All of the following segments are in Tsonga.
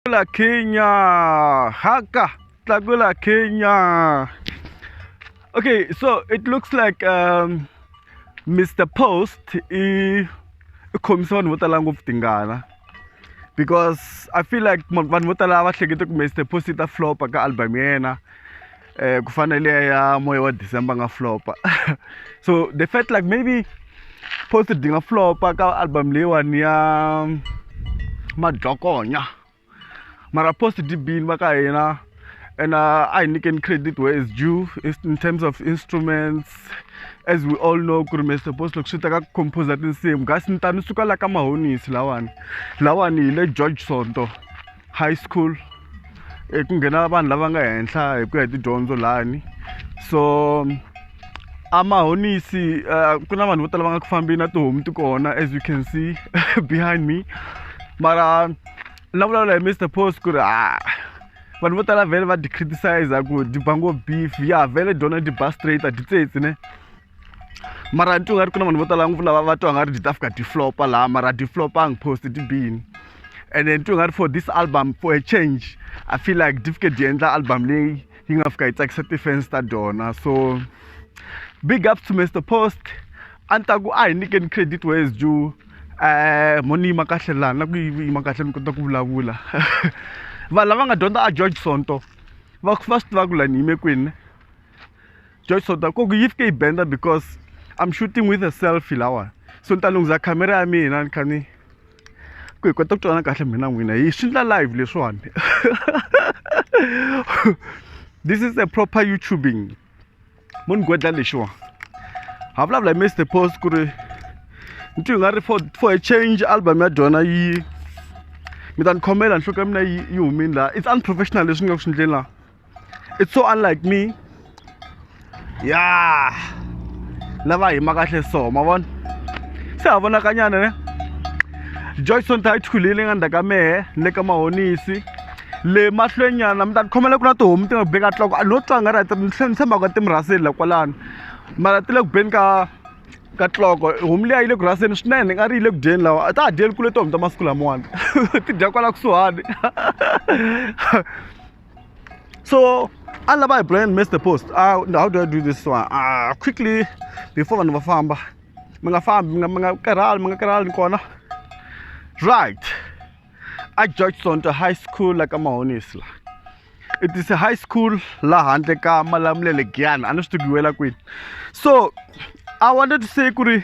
Tlakula Kenya. Haka. Tlakula Kenya. Okay, so it looks like um, Mr. Post i khomisa vanhu vo tala ngopfu tingana because I feel like vanhu vo tala va hlekete ku Mr. Post i ta flopa ka album ya yena eh, ku fana leya ya moya wa december nga flopa so they felt like maybe post di nga flopa ka album leyiwani ya madlokonya mara post di bini va ka hina and uh, I can credit where is due in terms of instruments as we all know ku ri Mr Boss loko swi ta ka composer tinsimu kasi ni ta ni suka la ka mahonisi lawani lawani hi le George Sonto high school eh, ku nghena vanhu lava nga henhla hi ku ya hi tidyondzo lani so amahonisi uh, eh, ku na vanhu vo tala va nga ku fambi na tihomu ti kona as you can see behind me mara na vulavula hi mr post ku ri ah, vanhu vo tala vhele va di criticize ku di ba ngo beef ya vhele dyona di ba straight a di tsetse ne mara ni twa nga ri ku na vanhu vo tala ngopfu lava va twa nga ri ti ta fika ti flopa laha mara ti flopanga post ti bini and then twi nga ri for this album for a change i feel like ti fike ti endla album leyi yi nga fika yi tsakisa ti-fans ta dona so big up to mr post a ni ta ku a hi nyikeni credit wes ju um eh, mo ni yima kahle laha na ku yima kahle ni kota ku vulavula vanhu lava nga dyondza a george sonto va va swi tiva ku lani yime kwini just so that koku yi fike yi benda because i'm shooting with a selfie lawa so ni ta lunghiza khamera ya mina ni kha ni ku hi kota ku twana kahle mina n'wina hi swi ndla live leswiwani this is a proper youtubing mo ni gwedla lexiwa ha vulavula hi mr post ku ri ni twi nga ri for for a change album ya dyona yi mi ta ni khomela nhloko ya mina yi yi humini laha it's unprofessional leswi ni nga ku swi ndleni laha it's so unlike me ya lava hima kahle so ma vona se ha vonakanyana ne joyson ta yi thulile nga ndzhaka mehe ni le ka mahonisi le mahlwenyana mi ta ni khomela ku na tihomu ti nga ku beka tloko a no twanga ri ni tlhela ni tshembaka ka timurhaseli la kwalano mara ti le ku beni ka ka tloko homu leyi a yi le ku rhaseni swinene nga ri yi le ku dyeni lawa a ta ha dyeli kule tihomu ta masiku lamawani ti dya kwala kusuhani so I love my brand missed the post uh, how do I do this one uh, quickly before vanhu va famba mi nga fambi mi nga mi nga karhali mi nga karhali kona right a George Sonto High School la ka Mahonisla it is a high school la handle ka Malamulele Giyani a ni swi tiviwela kwini so I wanted to say ku ri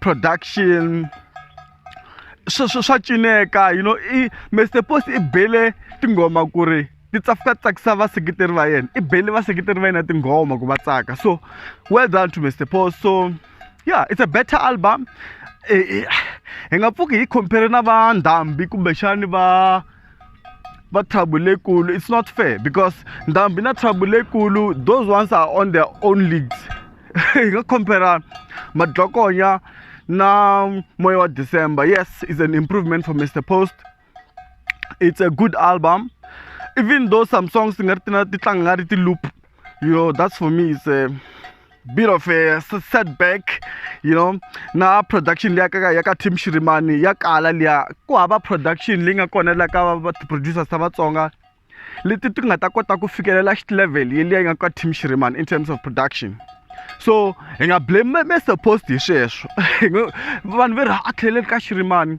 production sweswo swa cineka you know i mr post i bele tinghoma ku ri ti tsafuka tsakisa vaseketeri va yena i bele vaseketeri va yena tinghoma ku va tsaka so well done to mr post so yeah it's a better album eh, eh, hi nga pfuki hi compare na va ndhambi kumbexani va but trouble lekulu it's not fair because ndhambi na trouble lekulu those ones are on their own leagues hi nga compare madlokonya na moya wa december yes is an improvement for mr post it's a good album even though some songs ti nga ri ti na ti tlanga nga ri ti loop you know that's for me it's a bit of a setback you know na production leya ka ya ka team shirimani ya kala leya ku hava production leyi nga kona la ka va ti-producers ta vatsonga leti ti nga ta kota ku fikelela level yeliya yi nga ka team shirimani in terms of production so hi nga blame me supposed hi sweswo vanhu ve ri a tlheleli ka shirimani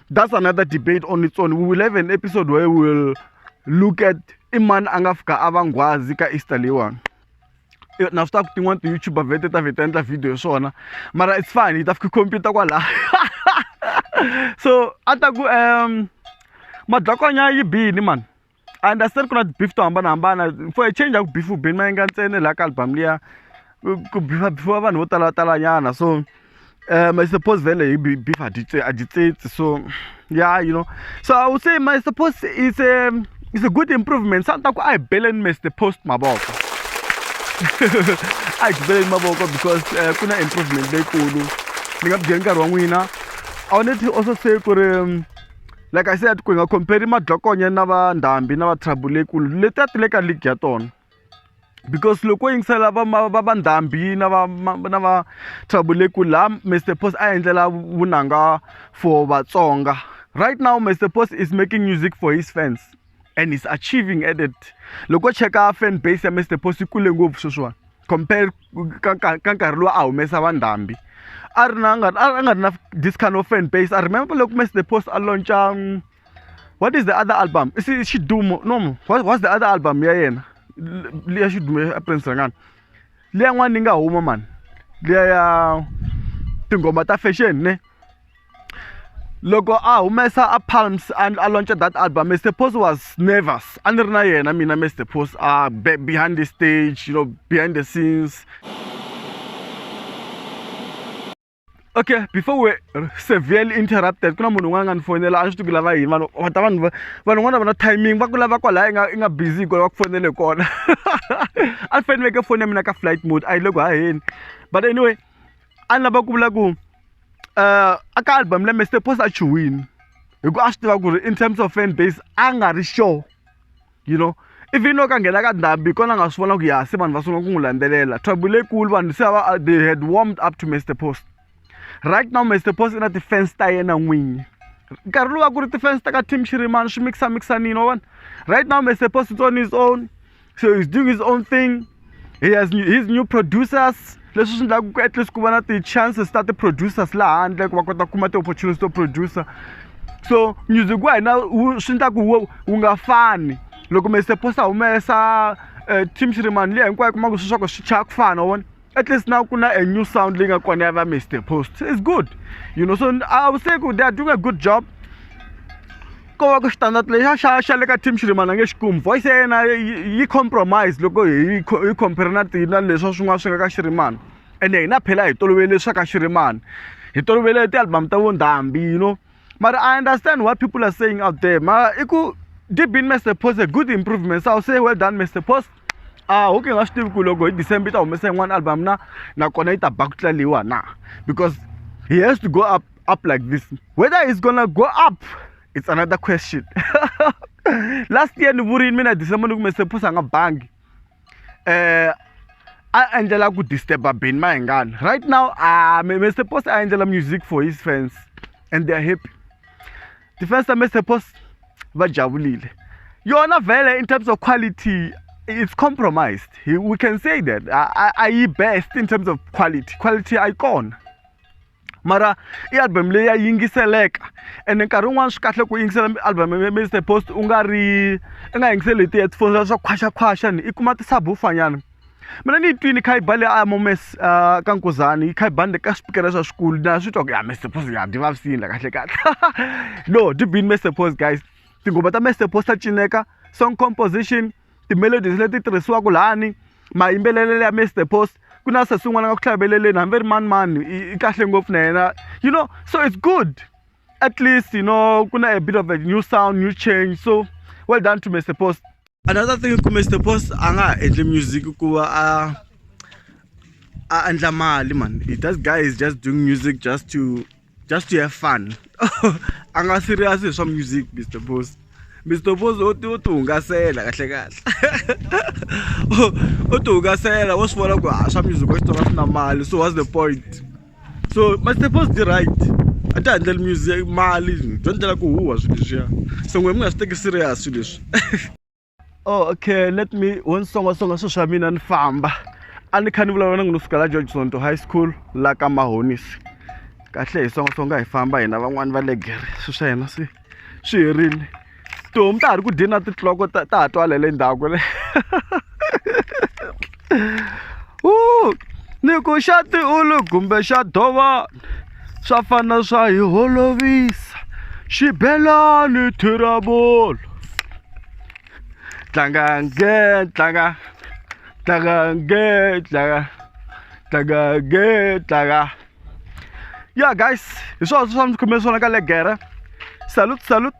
that's another debate on its own we will have an episode where we will look at i mani a nga fika a va nghwazi ka easter leyiwani eh, na swi ta ku tin'wana ti-youtuber vete ta vheta endla video hi swona mara it's fine hi ta fika computer kwalaha so a ta ku um madlakwanya yi bini mani a ni ta se ri ku na ti-beef to hambanahambana for a change a ku beef-iwi beni ma endla ntsena laha ka album liya ku beef-a beef-iwa vanhu vo tala talanyana so um I suppose vhele hi beef a dyi a dyi tsitsi so ya you know so I would say my suppose is a is a good improvement sa ni ta ku a hi beleni Mister Post mavoko a hi beleni mavoko because ku na improvement leyikulu ni nga byeli nkarhi wa n'wina I wanted to also say ku ri like i said ku hi nga compare madlokonya na va ndhambi na va trouble leyikulu letiya ti le ka league ya tona because loko yingisela va va va ndhambi na va na va trouble leyikulu laha mr post a endlela vunanga for vatsonga right now mr post is making music for his fans and he's achieving at it loko cheka fan base ya mr post yi kule ngopfu sweswiwani compare ka nkarhi lowu a humesa vandhambi a ri na a nga a nga ri na this kind of fan base i remember loko mess the post a launcha um, what is the other album i xidumo no what, what's the other album ya yena liya xidumo ya prince rangani liya n'wana ni nga huma mani liya ya tinghoma ta fashion ne loko a humesa a palms a a launcha that album mr pos was nervous a ni ri na yena mina mr pos a behind the stage you know behind the scenes okay before we severely interrupted ku na munhu un'wana a nga ni fonela a ni swi tiku lava yini vanhu va ta vanhu vanhu un'wana va na timing va ku lava kwalaya i nga i nga busy kwala va ku fonele kona a ni faneleke foni ya mina ka flight mode a yi le ku haheni but anyway a ni lava ku vula ku a ka album leyi Mister Post a chuhile hi ku a swi tiva ku ri in terms of fan base a nga ri sure you know even loko a nghena ka ndhambi hi kona a nga swi vona ku ya se vanhu va sungula ku n'wi landzelela trouble leyikulu vanhu se va they had warmed up to Mister Post right now Mister Post i na ti-fans ta yena n'winyi nkarhi lowu a ku ri ti-fans ta ka team xirimani swi mikisamikisanile wa vona right now Mister Post it's on his own so he's doing his own thing he has new, his new producers leswi swi endlaka ku at least ku va na ti-chances ta ti-producers laha handle ku va kota ku kuma ti-opportunities to producer so music wa hina swi endlaku wu wu nga fani loko mi se posta humesa um team xirimani liya hinkwayo kumaku swi swa ku swi chaya ku fana wona at least now kuna a new sound leyi nga kona ya va mr post is good you know so i would say they are doing a good job ko va ku xitandati lexa xa xa le ka team xirimana nge xikumi voice ya yena yi compromise loko hi hi compare na tina leswa swin'wana swi nga ka xirimana ene hina phela hi tolovele swa ka xirimana hi tolovele tialbum ta vo ndhambi you know mara i understand what people are saying out there mara i ku deep in mr post a good improvement so i'll say well done mr post ah okay nga swi tivi ku loko hi december yi ta humesa yin'wana album na nakona yi ta ba ku tlaliwa na because he has to go up up like this whether he's gonna go up it's another question last year ni vurini mina december ni ku mr post a nga bangi um a endlela ku disturb-a beni mahingani right now a mr post a endlela music for his fans and they're happy ti-fans ta mr post va jabulile yona vele in terms of quality it's compromised we can say that a yi best in terms of quality quality a yi kona mara i album leyi ya yingiseleka ene nkarhi wun'wani swi kahle ku yingisela album ya Mister Post u nga ri i nga yingiseli hi ti-headphone swa swa khwaxakhwaxa ni i kuma ti-subwoofer nyana mina ni yi twini kha yi ba le a Momesi ka Nkuzani yi kha yi ba ni le ka swipikara swa swikulu na swi twa ku ya Mister Post ya ni vavisekile la kahlekahle no deep in Mister Post guys tinghoma ta Mister Post ta cineka song composition ti-melodies leti tirhisiwaka lani mayimbelelo ya Mister Post ku na sesi un'wana nga ku tlhaveleleni hambi ri mani mani i kahle ngopfu na yena you know so it's good at least you know ku na a bit of a new sound new change so well done to Mister Post another thing ku Mister Post a nga ha endli music ku va a a endla mali man that guy is just doing music just to just to have fun a nga serious hi swa music mr boss mr boss o ti o ti hungasela kahle kahle o ti hungasela wo swi vona ku a swa music wa xitsonga swi na mali so what's the point so mr boss di right a ti handleli music mali byo ndlela ku huwa swilo leswiya so n'we mi nga swi teki serious swilo leswi oh, okay let me wo ni songasonga swilo swa mina ni famba a ni kha ni vulavula na n'wina suka la george sonto high school la ka mahonisi kahle hi songasonga hi famba hina van'wani va legere swilo swa hina swi swi herile tihomu ta ha ri ku dyeni na titloko ta ha twalele ndhaku le u ni ku xa tiulu kumbe xa dovani swa fana swa hi holovisa xibelani thirabolo tlanga nge tlanga tlanga nge tlanga tlanga nge tlanga ya guys hi swona swi swa mi khome swona ka legere salute salute